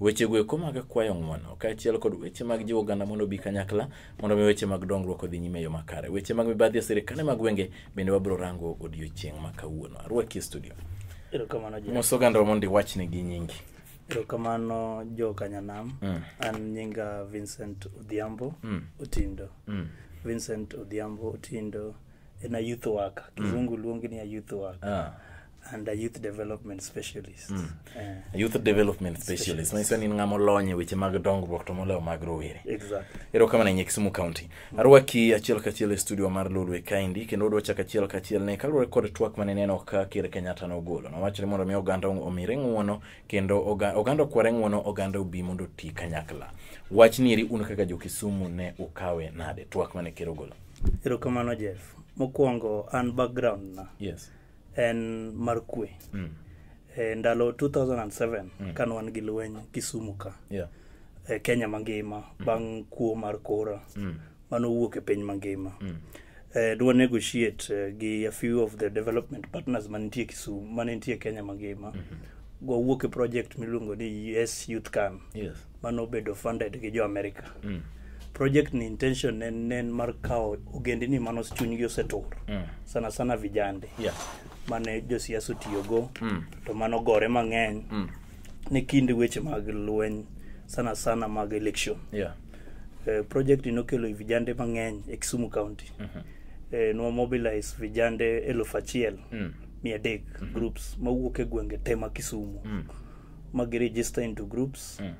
Wechego eko mag kwayo ng'wono, kaachiel kod weche mag jiwo oganda mondo obi kanyakla mondo mi weche mag dongruok odhi nyime e yo makare. Weche mag mibadhi e sirkande mag gwenge bende wabiro rango odiechieng' ma kawuono. Arwaki e studio. Erokamano Jeff. Mos ogandawa mondo iwachne gi nyingi. Erokamano jo Kanyanam. Mm. An nyinga Vincent Odhiambo Mm. Otindo. Mm. Vincent Odhiambo Otindo en a youth worker. Kizungu luonge ni a youth worker. Ah. and a youth development specialist mm. uh, youth development specialist manyiso ni ng'ama olony e weche mag dongruok to moloyo mag rowere exactly. ero kama nenye kisumu county mm. arwaki achiel kachiel e studio mar lolwe kaindi kendo odwa chako achiel kachiel ne kaluwore kod twak mane neno ka ker kenyatta nogolo nowacho ni mondo mi oganda omire ng'uono kendo oganda okware ng'uono oganda obi mondo oti kanyakla wach nieri un kaka jo kisumu ne ukawe nade twak mane ker ogolo erokamano jeff mokwongo an background na yes en mar kwe mm. e, ndalo 2007 mm. kane wan gi lweny kisumu ka yeah. e, kenya mangima mm. bang' kuo mar kora mm. mano wuok e piny mangima mm. e, dwa negotiate e, gi a few of the development partners manitie kisumu manitie kenya mangima mm -hmm. gwawuok e project miluongo ni us youth can yes. mane obedo funded gi jo America. Mm. Project ni intention ne ne en mar kawo ogendini mane os- chunygi osetur Mm. sana sana vijande Yeah. mane josiasa otiyogo Mm. to mano gore mang'eny Mm. ni kind weche mag lweny sana sana mag election. Yeah. Eh, project ni nokelo vijande mang'eny e Kisumu County. Eh, nwa mobilize vijande eluf achiel Mm. mia adek groups mawuok e gwenge te ma Kisumu. Mm. mag register into groups mm.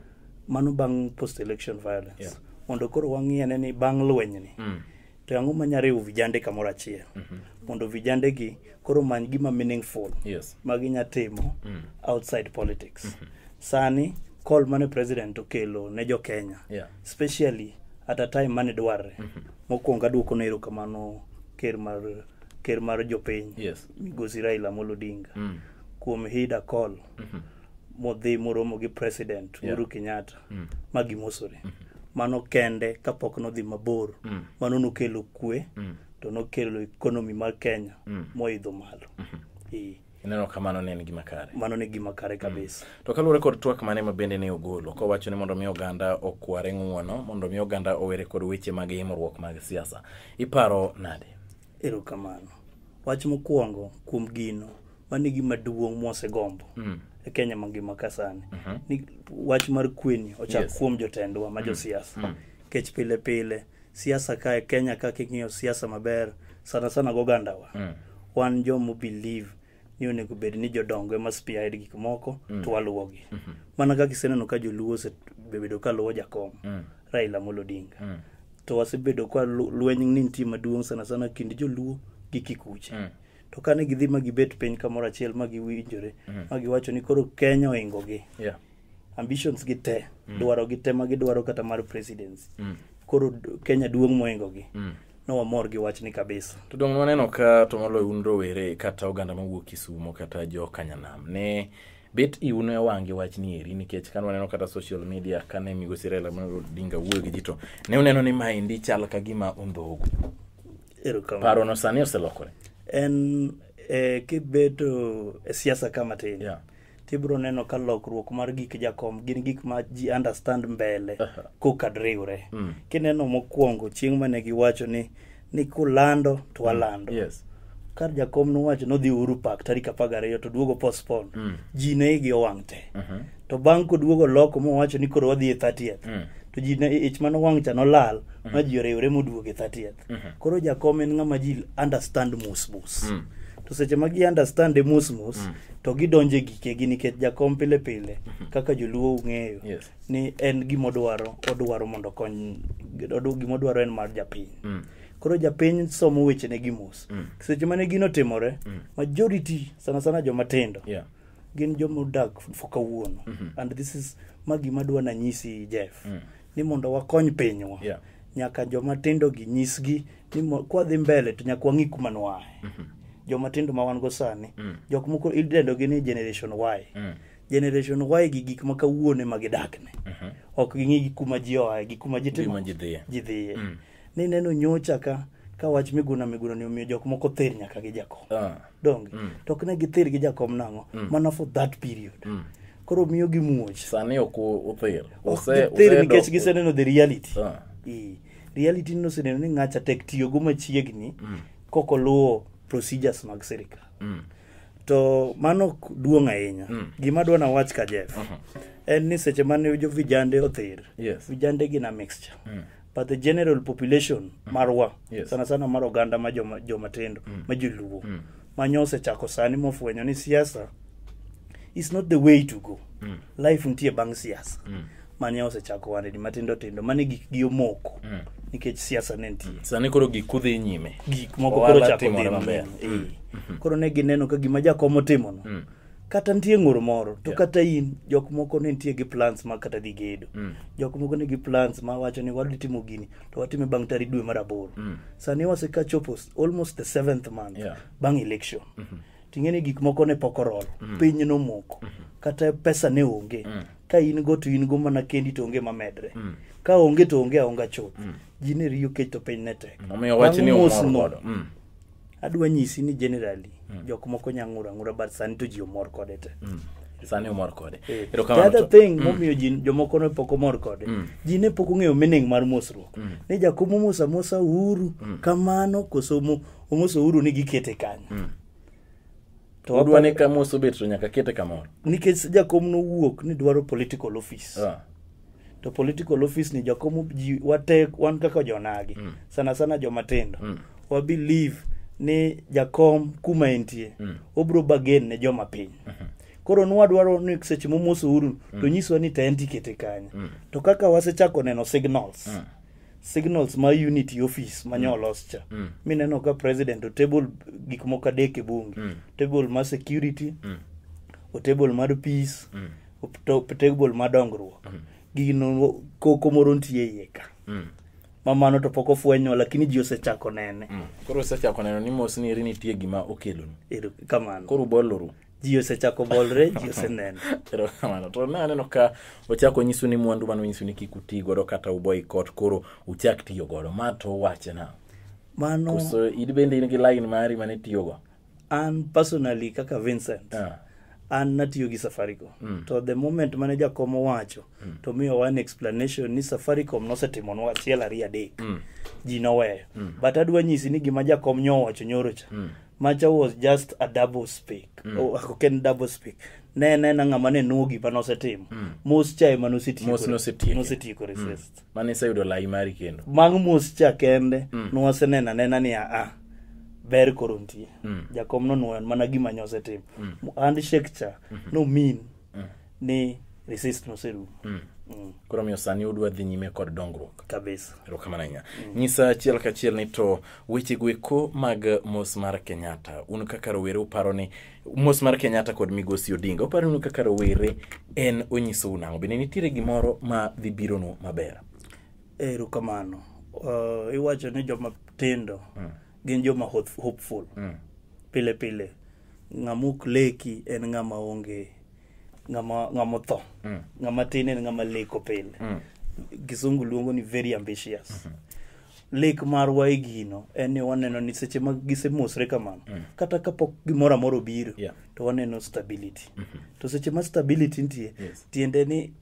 mano bang post election violence yeah. mondo koro wang'iyane ni bang lwenyni mm. to ang'o manya riwo vijande kamoro achiel mm -hmm. mondo vijande gi koro many gima meaningful yes. ma ginya timo mm. outside politics mm -hmm. sani call mane president okelo ne jo kenya yeah. especially at a time mane dwarre mm -hmm. mokwongo aduoko no erokamano ker mar ker mar jopiny yes. migosi raila molo odinga mm. kuom hida call mm-hmm. modhi moromo gi president yeah. Uhuru Kenyatta mm. ma gimosore mm-hmm. mano kende kapok nodhi mabor mm. mano nokelo kwe mm. to nokelo ekonomi mar Kenya mm. moidho malo mm-hmm. e. ineno ka mano ne en gima kare mano ne gima kare mm. kabisa mm. to kaluwore kod twak mane ma bende ne ogolo kowacho ni mondo mi oganda okware ng'uono mondo mi oganda owere kod weche mag imruok mag siasa iparo nade erokamano wach mokwongo kuom gino mano e gima duong' mwasegombo Mm. e kenya mangima ka sani ni wach mar kweni ochak Yes. kuom jotendwa ma josiasa kech pile pile siasa ka e kenya kaka ing'iyo siasa maber sana sana gogandawa Mm. wan jomo believe ni onego bed ni jodongo ema spearhead gik moko to waluwogi mana kaka iseneno ka joluo osebedo ka luwo jakom Mm. raila amolo odinga Mm. to wasebedo ka lu- lweny ni nitie maduong' sana sana kind joluo gi kikuche Mm. to kane gidhi ma gibet piny kamoro achiel ma giwinjore mm. ma giwacho ni koro kenya ohingogi yeah. ambitions gi te mm. dwaro gi te ma gidwaro kata mar presidency mm. koro kenya duong' mohingogi mm. nowamor gi wachni kabisa to dong' waneno ka to moloyo un rowere kata oganda mawuok kisumo kata jo kanyanam ne bet iuno e wang'gi wach ni eri nikech kane waneno kata social media kane migosi Raila Odinga wuoyo gi ji to ne uneno ni maendi chal ka gima ondhogu Erokamano. parono sani oselokore en eh, kibedo e siasa ka matin Yeah. tibiro neno ka lokruok mar gik jakom gin gik ma ji understand mbele Aha. kokad riwre Mm. kineno mokwongo chieng' mane giwacho ni ni kulando to walando yes ka jakom nowacho nodhi Uhuru Park tarik apar gariyo to duogo postpone Mm. ji ne igi owang' te Mhm. to bang' koduogo loko mowacho ni koro wadhi e 30th Mm. to ji ne- ich mano wang' cha nolal ma ji oriwre moduog e 30th Mhm. koro jakom en ng'ama ji understand mos mos Mm. to seche ma gi understand e mos mos Mm. to gidonjo e gikegi nikech jakom pile pile kaka joluo ung'eyo Yes. ni en gima odwaro odwaro mondo okony odu- gima odwaro en mar japiny Mm. koro japiny somo wechene gi mos Mm. seche mane gino timore Mm. majority sana sana joma tindo Yeah. gin joma odak for kawuono mm-hmm. and this is ma gima dwa nanyisi jeff mm. ni mondo wakony pinywa yeah. nyaka joma tindo gi nyisgi ni kwadhi mbele to nyaka wang'i kuma nwaye mm-hmm. joma tindo ma wan go sani mm. jok moko idendogi ni generation y mm. generation y gi gik ma kawuone ma gidakne mm-hmm. ok ging'i gi kuma ji oaye gi kuma ji timo ji dhiye mm. ni neno nyocha ka ka wach miguna miguna ni omiyo jok moko ther nyaka gi jakom Ah. donge to ok ne gither gi jakom nang'o mana for that period koro miyo gi muoch sani ok u- uthir Ok Use- gither usedok- nikech giseneno the reality Ah. Ee, reality ni oseneno ni ng'acha tek tiyogo machiegni kok oluwo procedures mag sirikal to mano ok duong' ahinya gima dwa nawach ka jef en ni seche mane jo vijande other Yes. vijande gin a mixture but the general population marwa Yes. sana sana mar oganda ma joma- jomatindo ma joluo manya osechako sani mofwenyo ni siasa is not the way to go life nitie bang' siasa manya osechako wanedi matindo tindo mane gikgi omoko nikech siasa ne nitie sani koro gik kudhi nyime gik moko Ohala koro chako timore dhi maber. maber. Eh. koro ne gineno ka gima jakom otimono kata nitie ng'ur moro to Yeah. kata in jok moko ne nitie gi plans ma kata dhi gedo Mm. jok moko ne gi plans ma wacho ni wadhi timo gini to watime bang' tarik dwe mar aboro Mm. sani waseka chopo s- almost the seventh month Yeah. bang' election ting'e ni gik moko ne pok orol piny nomoko kata pesa ne onge ka in go to in go mana kendi to onge mamedre ka onge to onge aonga chuth ji ne riyo kech to piny ne tek Omiyo wach ni Bang' umor mosno, godo. Mm. adwa nyisi ni generally mm. jok moko nya ng'ura ng'ura but sani to ji omor kode te mm. sani omor kode eh. the other thing mm. momiyo ji jomoko ne pok omor kode mm. ji ne pok ong'eyo meaning mar mosruok mm. ni jakom omosa mosa uhuru mm. kamano koso omoso uhuru ni gikete kanyo mm. to wadwa ni kamoso bet to nyaka kete kamoro nikech jakom nowuok ni dwaro political office ah. to political office ni jakomo ji wate wan kaka jonagi mm. sana sana jomatindo mm. wa believe ni jakom kuma entie mm. obro bagen ne joma piny mm -hmm koro nwadwaro ni seche momoso uru mm. to nyiswa ni ta en tikete kanye mm. to kaka wasechako neno signals mm signals ma unity office ma nyo mm. olos cha mm. mineno ka president otable gik moko adek e bunge mm. table ma security mm. otable mar peace mm. to table ma dongruok gino koko moro nitie iye ka Mm. ma mano to pok ofwenyo lakini ji osechako nene Mm. koro osechako neno ni mos ni eri nitie gima okelonu Ero kamano koro uboluru ji osechako bolre ji oseneno erokamano to ne aneno ka ochako nyisu ni mwandu mane onyisu ni kik uti godo kata uboy kot koro uchak tiyo godo ma to wache na mano koso in bende in gi line mari mane itiyogo an personally kaka vincent Ah. an natiyo gi safaricom mm. to the moment mane jakom owacho mm. to miyo wan explanation ni safaricom nosetimonwa achiel ariyo adek mm. ji noweyo mm. but adwa nyisi ni gima jakom nyowacho nyoro cha mm. macha was just a double speak mm. oh, ok en double speak ne nena ng'ama ne nuo gima nosetimo mm. mos cha ema Mos nosetiekore. nosetiekore mm. mane iseyudo lai mari kendo mag mos cha kende mm. nwasenena nena ni aa ber koro ntie mm. jakom nonwoyon mana gima nyosetim mm. and shek cha mm -hmm. no mean mm. ni resist noserumo mm. Mm. koro miyo sani udwa dhi nyime kod dongruok kabisa erokamano ahinya mm. nyisa achiel kachiel ni to wechego eko mag mos mar kenyatta un kaka rowere uparo ni mm. mos mar kenyatta kod migosi odinga uparo ni kaka rowere en onyisou nang'o bende nitiere gimoro ma dhi bironu maber erokamano uh, iwacho ni joma tindo mm. gin joma hof- hopeful mm. pile pile ng'ama ok leki en ng'ama onge ng'ama ng'ama otho Mm. ng'ama tin en ng'ama leko pile Mm. kisungu luongo ni very ambitious lek marwa e gino en ni waneno ni seche ma gisemosre kamano mm. kata kapok gimoro amoro obiro yeah. to waneno stability mm -hmm. to seche ma stability nitie yes. tiende ni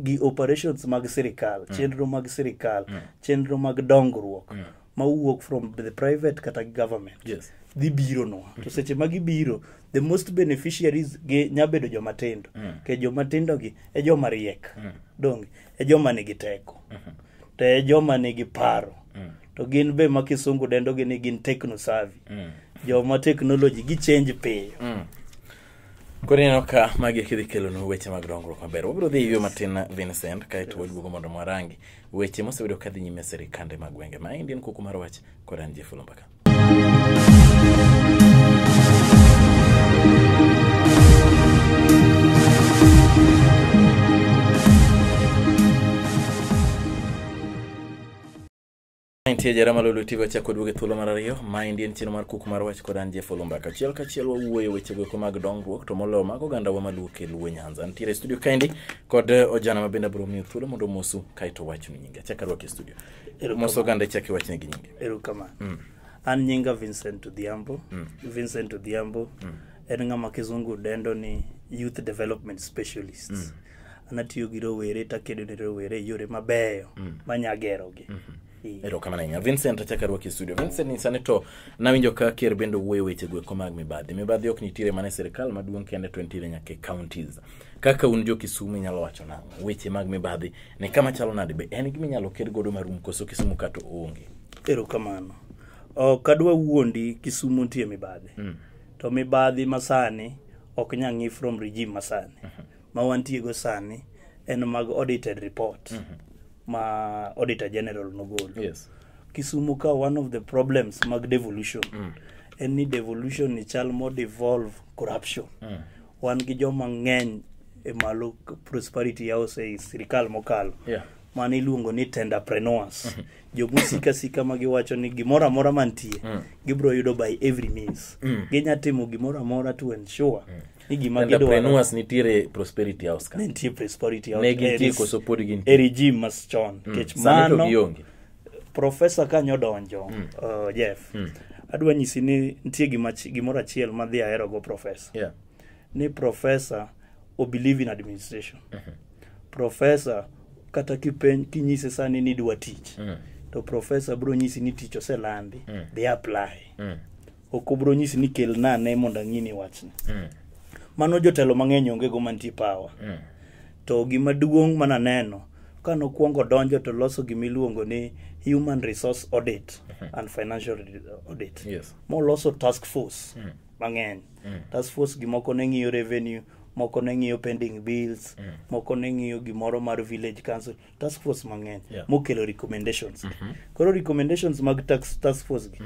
gi operations mag sirikal mm. chenro mag sirikal mm. chenro mag dongruok mm. ma wuok from the private kata government yes. dhi biro nwa mm -hmm. to mm-hmm. seche ma gibiro the most beneficiaries gi nya bedo joma tindo mm. ke joma tindo gi e joma riek mm. donge e joma nigi teko mm -hmm. to e joma nigi paro to gin be ma kisungu dendo gi ni gin techno savvy joma technology gi change piyo Koro ineno ka magi kidhi kelonu weche mag dongruok maber. Wabiro dhi ywe matin na Vincent kaeto waduogo mondo mwarangi weche mosebedo kadhi nyime e sirikande mag gwenge. Maendi en kuku mar wach kod an Jeff Olomba ka. Nitie jara malolo tigo achako duogo e thuolo mar ariyo. Maendi en chenro mar kuk mar wach kod an Jeff Olumba. Kachiel kachiel wawuoyo weche goeko mag dongruok to moloyo mag oganda wa maluwo e luo Nyanza. Nitiere e studio kaendi kod eh, ojana ma bende abiro miyo thuolo mondo omosu kaeto wachnu nyinge. Achaka rwake e studio. moso oganda ichak iwachne gi nyingi erokamano mm. an nyinga vincent odhiambo mm. vincent odhiambo mm. en ng'ama kizungu dendo ni youth development specialist mm. anatiyo gi rowere takedo ne rowere yore mabeyo mm. manyagerogi mm -hmm erokamano ahinya vincent achak arwaki e studio vincent ni sani to nawinjo ka ker bende owuoyo weche gweko mag mibadhi mibadhi ok nitiere mana e sirikal maduong' kende to nitiere nyaka e counties kaka un jo Kisumu inyalo wacho nang'o weche mag mibadhi ne kama chalo nade be en gima inyalo ker godo marum koso Kisumu kato onge erokamano ok adwa wuondi Kisumu nitie mibadhi mm. to mibadhi masani ok nya ng'i from regime masani mm -hmm. ma wantie go sani en mag audited report mm -hmm. ma auditor general nogolo yes. Kisumu ka one of the problems mag devolution mm. en ni devolution ni chal mo devolve corruption mm. wan gi joma ng'eny e malo prosperity house ei sirikal mokalo Yeah. mane iluongo ni tenderpreneurs jomusika sika ma giwacho ni gimoro amora mantie gibiro yudo by every means ginya timo gimoro amora to ensure ni gima gidwaro Entrepreneurs nitiere prosperity house ka. ne nitie prosperity Ne gintie koso pod gintie? e regime mas chon nikech Sani to mano gionge. Profesa kanyo odonjo, uh, Jeff, adwa nyisi ni nitie gima chi- gimoro achiel ma dhi aherogo profesa. Yeah. Ni profesa o believe in administration. Profesa kata kipen kinyise sani ni idwa tich. To profesa bro nyisi ni tich oselandi, dhi apply. ok obro nyisi ni kel nane mondo ang'ini wachni mm. mano jotelo mang'eny onge go mantie pawa mm. to gima duong' mana neno ka nokwongo donjo to loso gima iluongo ni human resource audit mm -hmm. and financial audit yes. moloso task force mm. mang'eny mm. task force gimoko ne ng'iyo revenue moko ne ng'iyo pending bills mm. moko ne ng'iyo gimoro mar village council task force mang'eny Yeah. mokelo recommendations koro recommendations mag tax, task force gi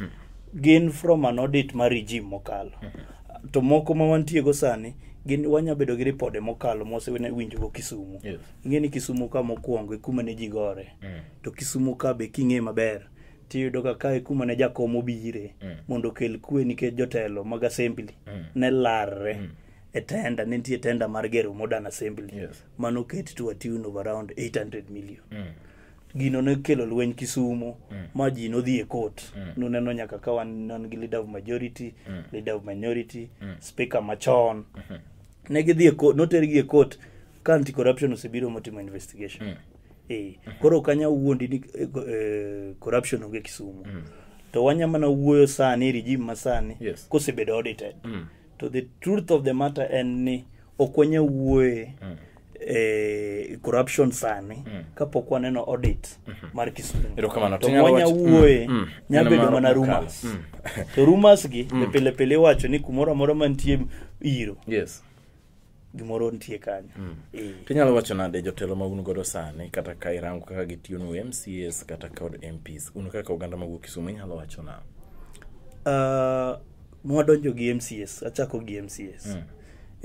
gin from an audit mar regime mokalo to moko ma wantiego sani gin wanya bedo gi ripode mokalo mosewinjogo kisumu Yes. ing'e ni kisumu ka mokwongo e kuma ne ji gore to kisumu ka be king'e maber tiyudo ka kae kuma ne jakom obire mondo okel kwe nikech jotelo mag assembly ne larre e tenda ne nitie tenda mar gero modern assembly Yes. mane oket to a tune of around 800 million gino ne kelo lweny kisumo ma ji nodhi e court nuneno nyaka ka wan non gi leader of majority leader of minority speaker machon ne gidhi e court notergi e court ka anti corruption osebiro motimo investigation eh koro kanya wuondi ni eh, co- eh, corruption onge kisumo to wanya mana wuoyo sani regime masani Yes. kosebedo audited to the truth of the matter en ni ok wanya wuoye mm. eh, corruption sani mm. kapok waneno audit mm -hmm. mar kisumu Erokamano. to Tinyalo wanya wach- mm, wuoye mm. nya Neno bedo mar mana Okalo. rumors Mm. to rumors gi mm. pile pile iwacho ni kumoro amora mantie iro yes gimoro nitie kanyo mm. e. to inyalo wacho nade jotelo ma un godo sani kata ka irango kaka gitiyonu mcs kata kod mps un kaka oganda mawuok kisumu inyalo wacho na uh, mwadonjo gi mcs achako gi mcs mm.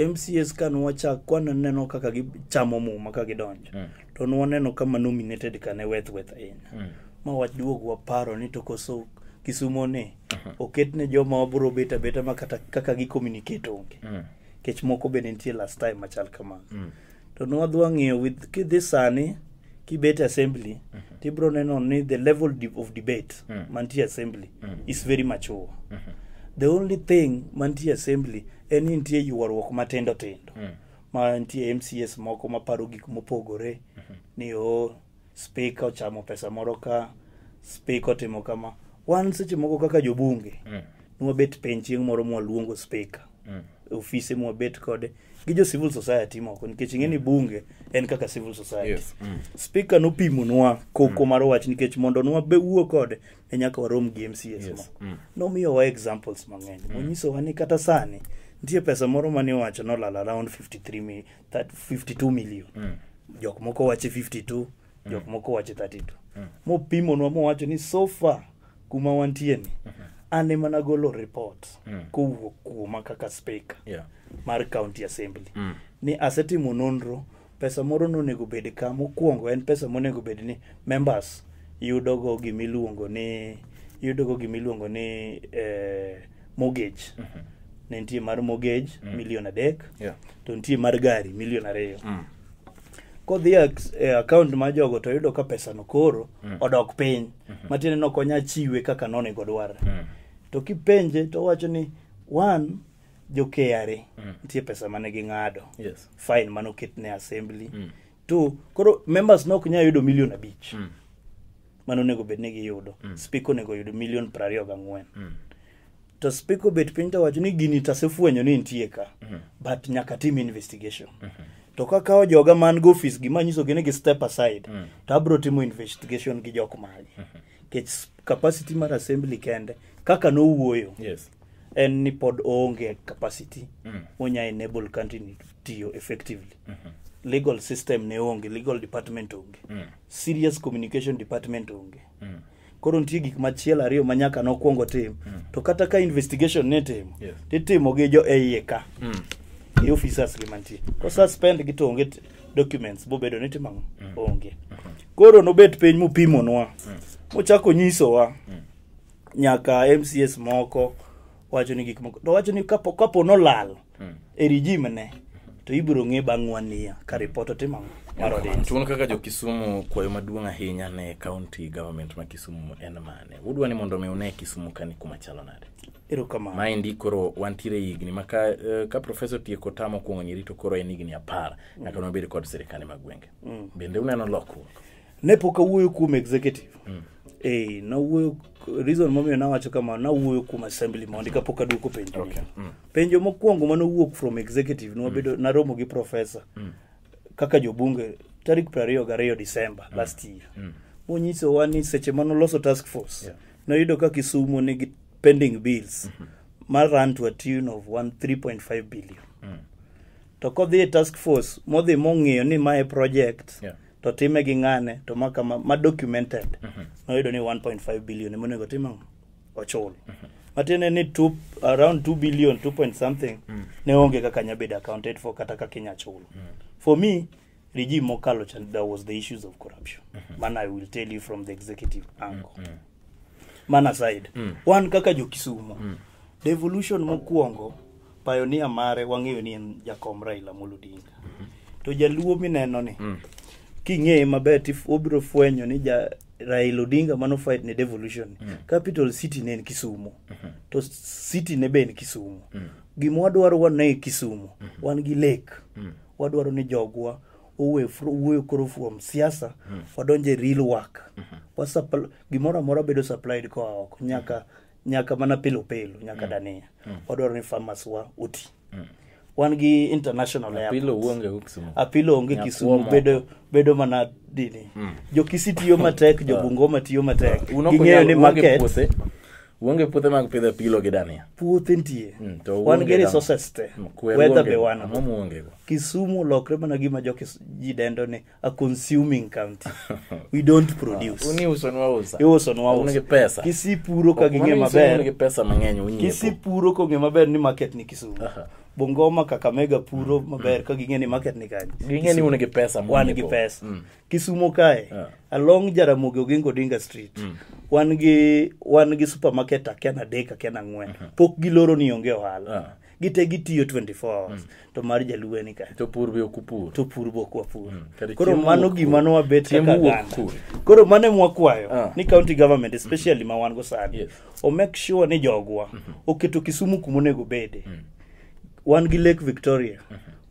mcs ka nwachak kwaneno kaka gichamo muma ka gidonjo mm. to nwaneno kama nominated kane weth weth ahinya mm. ma waduog waparo ni to koso kisumoni uh -huh. oketne joma wabro bet abeta ma kata kaka gicommunicate onge mm. kech moko be nitie last time machal kamano mm. to nwadhi wang'iyo with kidhi sani kibet assembly mm -hmm. tibro neno ni the level of debate mm. mantie assembly mm. is very mature mm -hmm. the only thing mantie assembly en ni nitie ywaruok matindo tindo mm. ma nitie mcs moko maparo gik mopogore mm -hmm. ni o oh, spika ochamo pesa moro ka spika otimo kama wan seche moko kaka jobunge mm. nwabet piny chieng' moro mwaluongo spika mm. ofise mwabet kode gi jo civil society moko nikech ing'e ni bunge en kaka civil society yes. mm. spika nopimonwa koko mm. mar wach nikech mondo nwawuo kode ne nyaka warom gi mcs yes. moko mm. nomiyowa examples mang'eny mm. monyisowa ni kata sani nitie pesa moro mane iwacho nolal around 53 mi that 52 million mm. jok moko wache 52 mm. jok moko wache 32 mm. mopimonwa mowacho ni so far kuma wantie ni mm -hmm. an ema nagolo report mm. kowuok kuoma kaka speaker yeah. mar county assembly mm. ni asetimo nonro pesa moro nonego bed ka mokwongo en pesa monego bed ni members yudogo gimiluongo ni yudogo gimiluongo ni eh, mortgage ne nitie mar mortgage milion adek Yeah. to nitie mar gari milion ariyo Mm. kodhi e ak- e account mar jogo to yudo ka pesano koro odok piny matiende ni ok onya chiwe kaka nonego dwarre Mm. to kipenje to owacho ni one jo KRA nitie pesa mane ging'ado Yes. fine mane oketne assembly Mm. two koro members ne ok nyal yudo milion abich Mm. mano onego bed ni giyudo mm. spiko onego yud milion prariyo gang'wen mm. to spiko obet piny to wacho ni gini tasefwenyo ni nitie ka mm. but nyaka tim investigation mm -hmm. to kakawo joga man go office gima nyiso gini gi step aside mm. to abro timo investigation gi jok magi mm -hmm. kech capacity mar assembly kende kaka nowuoyo yes en ni pod oonge capacity mm. onya enable country ni tiyo effectively mm -hmm. legal system ne onge legal department onge mm. serious communication department onge mm. koro nitie gik machielo ariyo ma nyaka nokwongo tim mm. to kata ka investigation nitimo yes. titimo gi jo eiye ka mm. e officers gi mantie ko suspend gi to onge documents bobedo ni timo mm. onge mm. koro nobet piny mopimonwa mm. mochako nyisowa mm. nyaka mcs moko wacho ni gik moko to wacho ni kapo, kapo nolal e regime ne to ibiro ng'e bang' one year ka report otim ang'o mar audit. Tuon kaka jo Kisumu kwayo maduong' ahinya ne county government ma Kisumu en mane? Udwa ni mondo mi une Kisumu kani kuma chalo nade? Erokamano. Maendi koro wantiere e higni ma ka, eh, ka profesa otieko tam mokwongo nyirito koro en higni apar nyaka nobed kod sirkande mag gwenge. Bende uneno lokruok? ne pok awuoyo kuom executive mm. eh, nawuoyo reason momiyo nawacho kama nawuoyo kuom assembly mondi kapok aduoko penjo okay. mm. penjo mokwongo manowuok from executive nwabedo mm. naromo gi professor mm. kaka jobunge tarik prariyo gariyo december mm. last year mm. monyisowa ni seche manoloso task force yeah. noyudo ka kisumo nigi pending bills mm -hmm ma run to a tune of 3.5 billion mm. to kodhi e task force modhi mong'iyo ni mae project yeah. to time gi ng'ane to ma kama ma documented noyudo ni 1.5 billion ema onego tim ang'o ochul matiende ni two, around 2 billion 2 point something ne onge kaka nyabedo accounted for kata kaka inya chulo for me regime mokalo cha there was the issues of corruption man i will tell you from the executive angle man aside mm. wan kaka jokisumo mm. devolution mokwongo pionia mare wang'eyo ni en jakom raila amolo odinga mm -hmm. to jaluo mineno ni mm. king'eye maber obiro fwenyo ni ja raila odinga mano fight ne devolution mm. capital city ne en kisumo mm -hmm. to city ne be en kisumo mm. gima wadwaro wane kisumo mm -hmm. wan gi lake mm. wadwaro ni jogwa uwe fr- uwe koro from siasa wadonje real work Wasuppl- gimoro amora bedo supplied koa oko nyaka nyaka mana pilo pilo nyaka dania wadwaro ni farmers wa uti wan gi international airport. pilo uonge huku Kisumu. apilo onge Nyakuo kisumu moko. bedo bedo mana dini jokisi tiyo matek jobungoma tiyo matek Unoko ging'eyo nyalo- ni uonge market puothe. Uonge puothe mag pidho apilo gi dania. puothe nitie Mm, to wan uonge gi dana. resources te Mm, kwer weather uonge be go. wan Ang'o muonge go? kisumu olokre mana gima jo Kis- ji dendo ni a consuming county we don't produce Uni uso nwa usa. iuso nwa Uonge uso pesa. kisipuro ka ging'e Mano iso uonge maber pesa mang'eny unyiepo. kisipuro kong'e maber ni market ni kisumu Aha. bongoma kakamega puro maber ka ging'e ni market ni kanye Ging'e ni un gi pesa wan gi munyiepo. pesa Mm. kisumo kae Yeah. along jaramogi oginga odinga street wan gi wan gi supermarket akia na adek akia na ang'wen pok giloro ni onge ohala Yeah. gite gitiyo 24 hours to mar jaluo en ka to pur be ok upur to pur bok wapur kare koro chiemo mano wuok gima kure? nwabet Chiemo kaka wuok ganda kure? koro mano ema wakwayo Ah. ni county government especially ma wan go sani Yes. o make sure ni jogwa oketo kisumu kuma onego bede wan gi lake victoria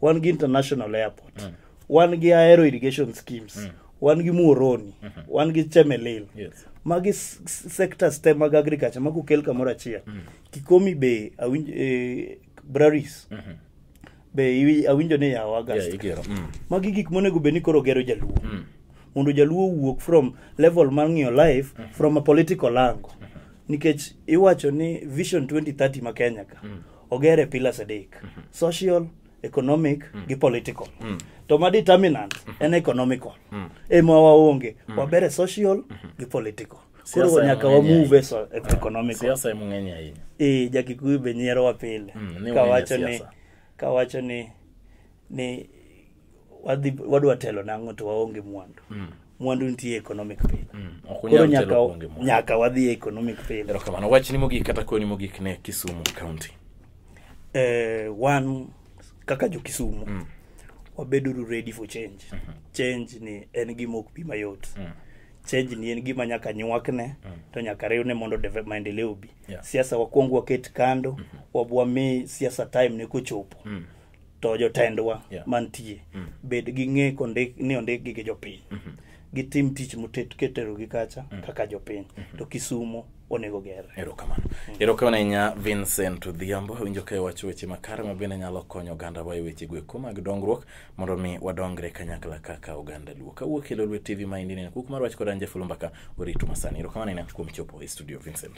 wan gi international airport wan gi aero irrigation schemes mm. wan gi muoroni mm -hmm. wan gi chemelil yes. magi sectors te mag agriculture mago kel kamoro achiel mm. kikomi be awinj, eh, braris mm -hmm. be awinjo ni yawo agast yeah, mm. magi gik monego bed ni koro gero jaluo mm. mondo jaluo wuok from level mar ng'iyo life mm -hmm. from a political angle mm -hmm. nikech iwacho ni vision 2030 ma kenya ka mm. ogere pillars adek mm -hmm. social economic gi political to ma determinant en economical ema waonge wabere social gi political koro Siasa nyaka ema ng'eny wamove so economical siasa ema ng'eny ahinya eh jakikuyu be nyierowa pile Mm, ni wang'e kawacho ni siasa. kawacho ni ni wadhi wadwa telo nang'o to waonge mwandu mwandu nitie economic pile Mm, ok koro unyal nyaka telo kuonge mwandu. nyaka wadhi e economic pile erokamano wachni mogik kata koni mogik ne kisumu county eh, one kaka jokisumu mm. wabeduru ready for change mm -hmm. change ni en gima ok bi mayot mm. change ni en gima nyaka nywakne mm. to nyaka riwne mondo deve- maendeleo obi Yeah. siasa wakwong waket kando mm -hmm. wabwami siasa time ne kochopo mm. to jotendwa Yeah. mantie bed gi ng'e kondik ni ondikgi gi jopiny gitim tich motet keterogi kacha kaka jopiny to kisumo onego gerre erokamano erokamano ahinya vincent odhiambo winjo ka iwacho weche makare ma bende nyalo konyo ogandawa e wechego eko mag dongruok mondo mi wadongre kanyakla kaka oganda luo kawuok e lolwe tv ma indinene kuk mar wach kod anje fulumbaka oritu masani erokamano ahinya kuom chopo e studio vincent